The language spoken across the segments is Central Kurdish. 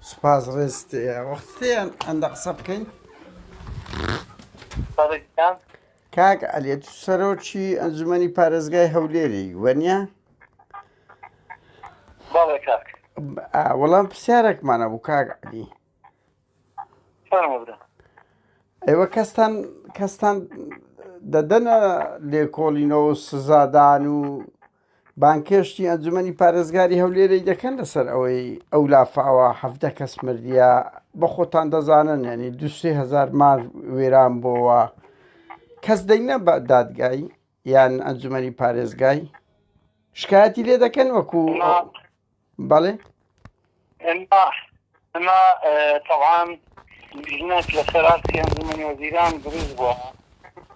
سپاس ڕێز وەختیان ئەندە قسە بکەین کاک ئەلێت سەرۆکی ئەنجومی پارێزگای هەولێری وەنیە وەڵام پرسیارێکمانە بوو کاک علی ئێوە کەستان کەستان دەدەنە لێکۆڵینەوە سزادان و بانگهێشتی ئەنجومەنی پارێزگاری هەولێرەی دەکەن لەسەر ئەوەی ئەو لافاوە حەڤدە کەس مردیە بە خۆتان دەزانن ینی دوسێ هزار مار وێران بۆوە کەس دەینە بە دادگای یان ئەنجومەنی پارێزگای شکایەتی لێ دەکەن وەکو بەڵێ ئێمە ئێمە تەبعەن لیژنەک لەسەر ئاستی ئەنجومەنی وەزیران دروست بووە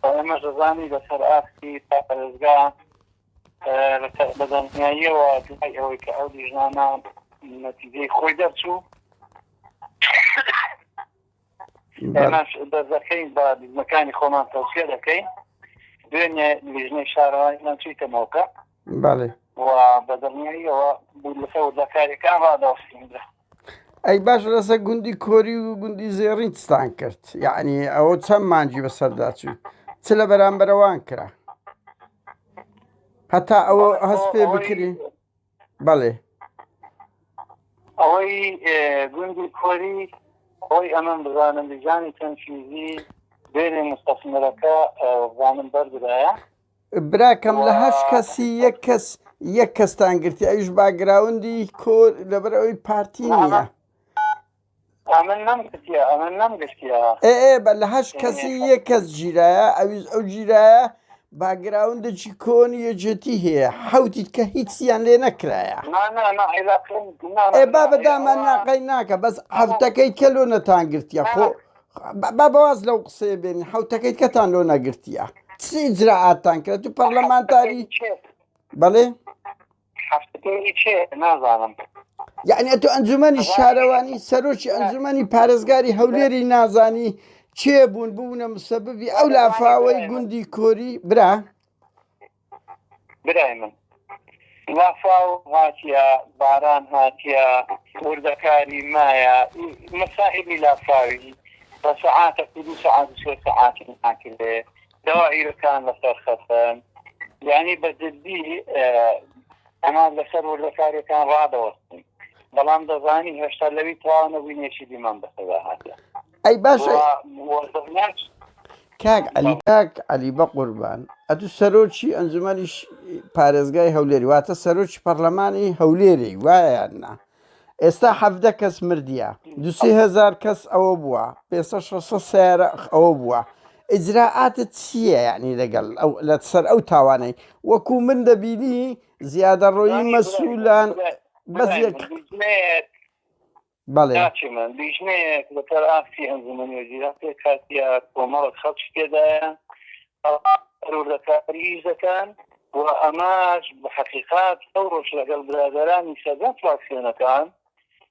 و ئێمەش دەزانین لەسەر ئاستی پارێزگا بە دڵنیاییەوە دوای ئەوەی کە ئەو لیژنانە نەتیجەی خۆی دەرچوو ئێمەش دەردەکەین بە لیژنەکانی خۆمان تەوسیە دەکەین دوێنێ لیژنەی شارەوانیان چیتە مۆکە بەڵێ و بە دڵنیاییەوە بوو لەسە وردەکاریەکان ڕاداستین ئەی باش لەسەر گوندی کۆری و گوندی زێڕینستان کرد یعنی ئەوە چەند مانجی بەسەردا چوو چ لە بەرامبەرەوان کرا هەتا ئەوە هەست پێ بکرین بەڵێ ئەوەی گوندی کۆری خۆی ئەمەم بزانم دیزانی تەنفیزی بێنێ مستەسمەرەکە زانم بەردرایە براکەم لە هەش کەسی یەک کەس یەک کەستان گرتی ئەوش باگراوندی کۆر لەبەر ئەوی پارتی نیە ئەمن نەم کوتیە ئەمن نەم گشتیە. ئێ ئێ بە لە هەشت کەسی یەک کەس گیرایە ئەویش ئەو گیرایە باگراوندێکی کۆن یەکێتی هەیە حەوتیت کە هیچیان لێ نەکرایە نا نا نا عێلاقم نا ئێ با بە دامان ناقەی ناکە بەس حەوتەکەی کە لۆ نەتان گرتیە خۆ با بەواز لەو قسەیە بێنی حەوتەکەی کەتان لۆ نەگرتیە چی ئیجرائاتتان کرد تو پەرلەمانتاری بەڵێ یعنی ئەتۆ ئەنجومەنی شارەوانی سەرۆکی ئەنجومەنی پارێزگاری هەولێری نازانی چێ بوون بوونە مسەببی ئەو لافاوەی گوندی کۆری برا برای من لافاو هاتیە باران هاتیە وردەکاری مایە مەسائلی لافاوی بە سەعاتە سەعات سەعاتی ناکردێ داوائیرەکان لەسەر خەسەن یانی بە جدی ئەمان لەسەر وردەکارەکان ڕادەوەستن بەڵام دەزانی هێشتا لەوی تاوانە بووینێکی دیمان بەسەدا هاتە ئەی باشە کاک علی کاک علی بە قوربان ئەتو سەرۆکی ئەنجومەنیش پارێزگای هەولێری واتە سەرۆکی پەرلەمانی هەولێری وایە نا ئێستا حەڤدە کەس مردیە دوسی هزار کەس ئەوە بووە پێسە شەسە سیارە ئەوە بووە ئجراعاتت چییە یعنی لەگەڵ ئەو لە سەر ئەو تاوانەی وەکو من دەبینی زیادە ڕۆیی مەسوولان بەزیێک بەڵێ من لیژنەیەک لەسەر ئاستی ئەنجومەنی وەزیران پێکاتیا کۆمەڵە خەڵکی تێدایە پەروردەکاری ئیش دەکەن و ئەمەش بە حەقیقات ئەو ڕۆژ لەگەڵ برادەرانی سەرجەم فراکسیۆنەکان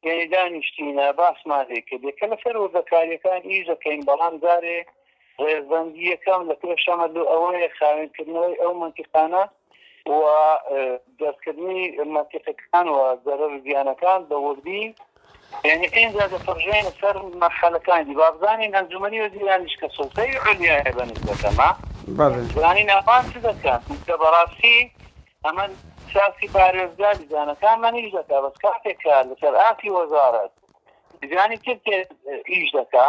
یانی دانیشتینە باسمان لێ کرد یەکە لەسەر وردەکاریەکان ئیش دەکەین بەڵام جارێ ڕێزبەندی یەکەم لە پێشەمە لۆ ئەوەیە خاوێن کردنەوەی ئەو مەنتیقانە و دەستکردنی مەنتیقەکان و زەرەر و زیانەکان بە وردی یانی ئینجا دەپەڕژێینە سەر مەرحەلەکانی دی با بزانین ئەنجومەنی وەزیرانیش کە سوڵتەی عولیایە بە نسبەت ئەمە بزانین ئەوان چ دەکەن چونکە بەڕاستی ئەمە ساسی پارێزگا دیزانەکانمان ئیش دەکا بەس کاتێک کە لەسەر ئاستی وەزارەت دیزانی تر ئیش دەکا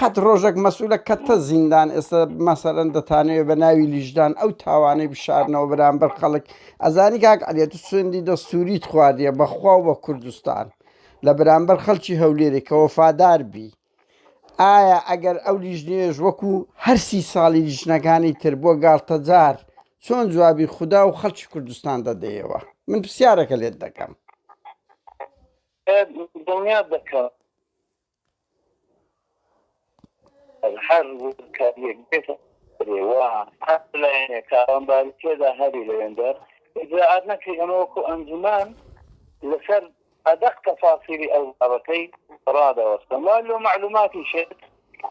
قەت ڕۆژەک مەسولە کەتتە زیندان ئێستا مەسەرەن دەتانەوێ بە ناوی لیژدان ئەو تاوانەی بشارنەوە بەرامبەر خەڵک ئەزانی کاک عەلێت و سوێندی دەستووریت خواردیە بەخوا و بە کوردستان لە بەرامبەر خەڵکی هەولێرێک کە وەفادار بی ئایا ئەگەر ئەو لیژنێش وەکو هەرسی ساڵی لیژنەکانی تر بۆ گاڵتەجار چۆن جوابی خوددا و خەڵکی کوردستان دەدەیەوە من پرسیارەکە لێت دەکەم دڵنیات دەکەم هەر وردکارییەک بێتە ئەرێوا، هەر لایەنێک تاوانباری تێدا هەبێ لە وێندەر، ئیجرائات نەکرێ، ئێمە وەکوو ئەنجومەن لە سەر ئەدەق تەفاسیلی ئەو بابەتەی ڕادەوەستن. وا لۆ مەعلووماتی شت،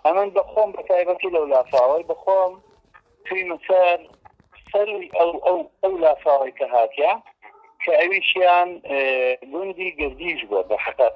ئەمن بە خۆم بە تایبەتی لەو لافاوەی بە خۆم چوویمە سەر سەرووی ئەو ئەو ئەو لافاوەی کە هاتیان کە ئەویشیان گوندی گردیش بووە بە حەقەت.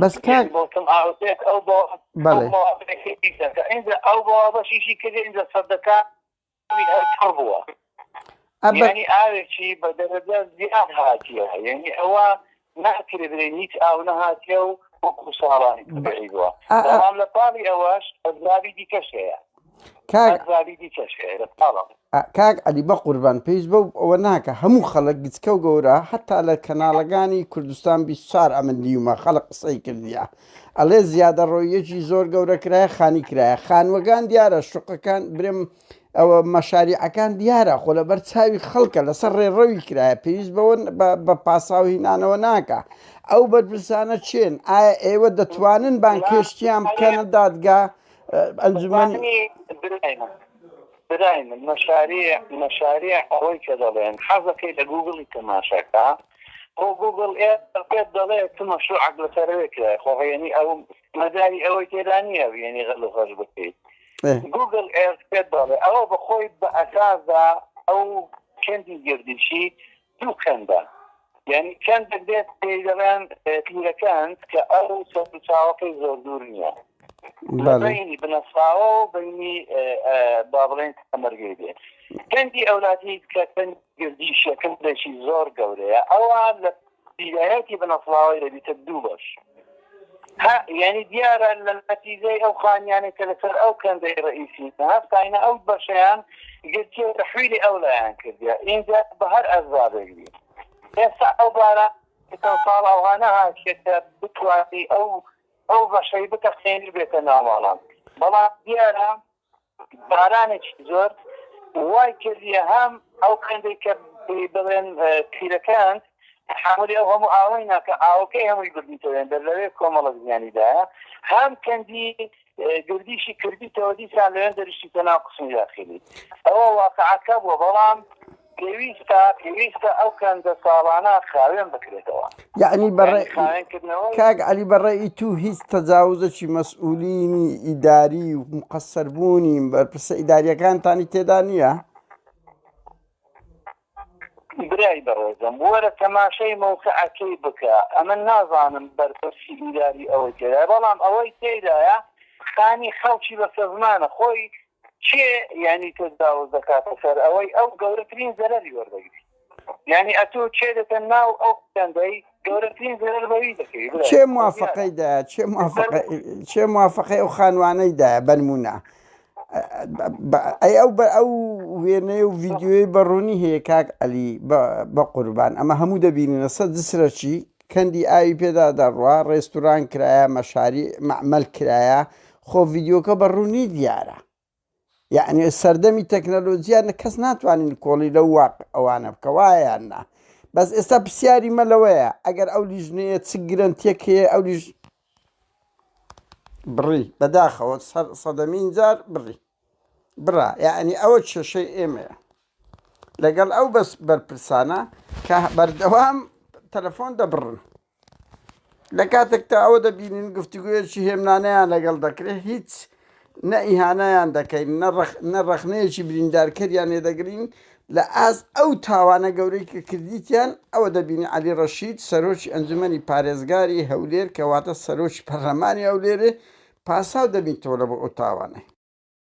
بەس کاک بۆتم ئاوتێت ئەو بۆ بەڵێ ئینجا ئەو بۆ بەشیشی کرد ئینجا سەدەکە هەر بووە ئەبنی ئاوێکی بە دەرەجە زیاد هاتیە یعنی ئەوە ناکرێ بێن هیچ ئاو نەهاتیە و وەکو ساڵانی بووە لە پاڵی ئەوەش ئەزابی دیکەشەیە کاک علی بە قوربان پێویست بە ئەوە ناکە هەموو خەڵک گچکە و گەورە هەتا لە کەناڵەکانی کوردستان 24 ئەمن دیومە خەڵق قسەی کردیە ئەڵێ زیادە ڕۆیەکی زۆر گەورە کرایە خانی کرایە خانوەگان دیارە شوقەکان برم ئەوە مەشاریعەکان دیارە خۆ لە بەر چاوی خەڵکە لەسەر ڕێڕەوی کرایە پێویست بەوە بە پاساوهینانەوە ناکە ئەو بەرپرسانە چێن ئایا ئێوە دەتوانن بانکێشتیان بکەنە دادگا ئەنجومەنی براین مەشاریع مەشاریع ئەوەی کە دەڵێن حەزەکەی لە گوگڵی تەماشاکە خۆ گوگڵ ئێ پێت دەڵێ چ مەشروعەک لەسەرەوەی کرای خۆ هەیەنی ئەو مەداری ئەوەی تێدا نییە وێنی غەل و غەش بکەیت گوگل ئێرت پێت دەڵێ ئەوە بەخۆی بە ئەساسدا ئەو چەندی گردیشی دوو کەندە یانی کەندەک دێت پێی دەڵێن پیرەکەند کە ئەو سەرچاوەکەی زۆر دوور نییە لە بینی بنەساوە و بینی با بڵێن تەمەرگەی دێت کەندی ئەولاتی کە کەند گردی شەکەم دەشی زۆر گەورەیە ئەوان لە پیرایەتی بنەسڵاوەی دەبیتە دوو بەش هە یانی دیارە لە نەتیجەی ئەو خانیانەی کە لەسەر ئەو کەندەی ڕەئیسی هەستاینە ئەو بەشەیان گرتیە تەحویلی ئەو لایان کردیە ئینجا بە هەر ئەسبابێک بی ئێستا ئەو بارە چەند ساڵ ئەوها نەهاتیە کە بتوانی ئەو ئەو بەشەی بتەقێنی بێتە ناو ماڵان بەڵام دیارە بارانێکی زۆر وای کردیە هەم ئەو قندەی کە پێی بڵێن تیرەکان تەحەمولی ئەو هەموو ئاوەی ناکە ئاوەکەی هەمووی بردیتەوە یان دەر لەوێ کۆمەڵێک زیانی دایە هەم کەندی گردیشی کردیتەوە دیسان لەوێن دەریشتیتە ناو قسمی داخلی ئەوە واقعەکە بووە بەڵام پێویستە پێویستە ئەو کەنزە ساڵانە خاوێن بکرێتەوە. یەعنی بە ڕێ کاک عەلی بە ڕێی تو هیچ تەجاوزەکی مەسئولینی ئیداری و مقەسەر بوونی بەرپرسە ئیداریەکانتانی تێدا نییە؟ برای بەڕێزم وەرە تەماشای مەوقعەکەی بکە ئەمە نازانم بەرپرسی ئیداری ئەوەی تێدا بەڵام ئەوەی تێدایە خانی خەڵکی بەسەزمانە خۆی کێ یانی تەجاوز دەکاتە سەر ئەوەی ئەو گەورەترین زەرەری وەردەگری یانی ئەتو چێ دەتەن ناو ئەو دەندەی گەورەترین زەرەر بەوی دەکەی برا چێ موافقەی دا چێ موافقە چێ موافقەی ئەو خانوانەی دا بەنمونە ئەی ئەو بە ئەو وێنەیە و ڤیددیوی بە ڕوونی هەیە کاک ئەلی بە قوربان ئەمە هەموو دەبینە سە دسرەچی کەندی ئاوی پێدا دەڕوا ڕێستوران کرایە مەشاری مەعمل کرایە خۆ ڤیدیۆکە بە ڕوونی دیارە. یەعنی سەردەمی تەکنەلۆجیا نە کەس ناتوانین کۆڵی لەو واق ئەوانە بکە وایە یان نا بەس ئێستا پرسیاری مە لەوەیە ئەگەر ئەو لیژنەیە چ گرنتیەک هەیە ئەو لیژ بڕی بەداخەوە سەر سەدەمین جار بڕی بڕا یعنی ئەوە کێشەی ئێمەیە لەگەڵ ئەو بەس بەرپرسانە کە بەردەوام تەلەفۆن دەبڕن لە کاتێکدا ئەوە دەبینین گفتوگۆیەکی هێمنانەیان لەگەڵ دەکرێت هیچ نە ئیهانەیان دەکەین نە ڕەخنەیەکی بریندارکەریان لێ دەگرین لە ئاست ئەو تاوانە گەورەی کە کردیتیان ئەوە دەبینی عەلی ڕەشید سەرۆکی ئەنجومەنی پارێزگاری هەولێر کەواتە سەرۆکی پەرلەمانی هەولێرێ پاساو دەبیتەوە لە بۆ ئەو تاوانەی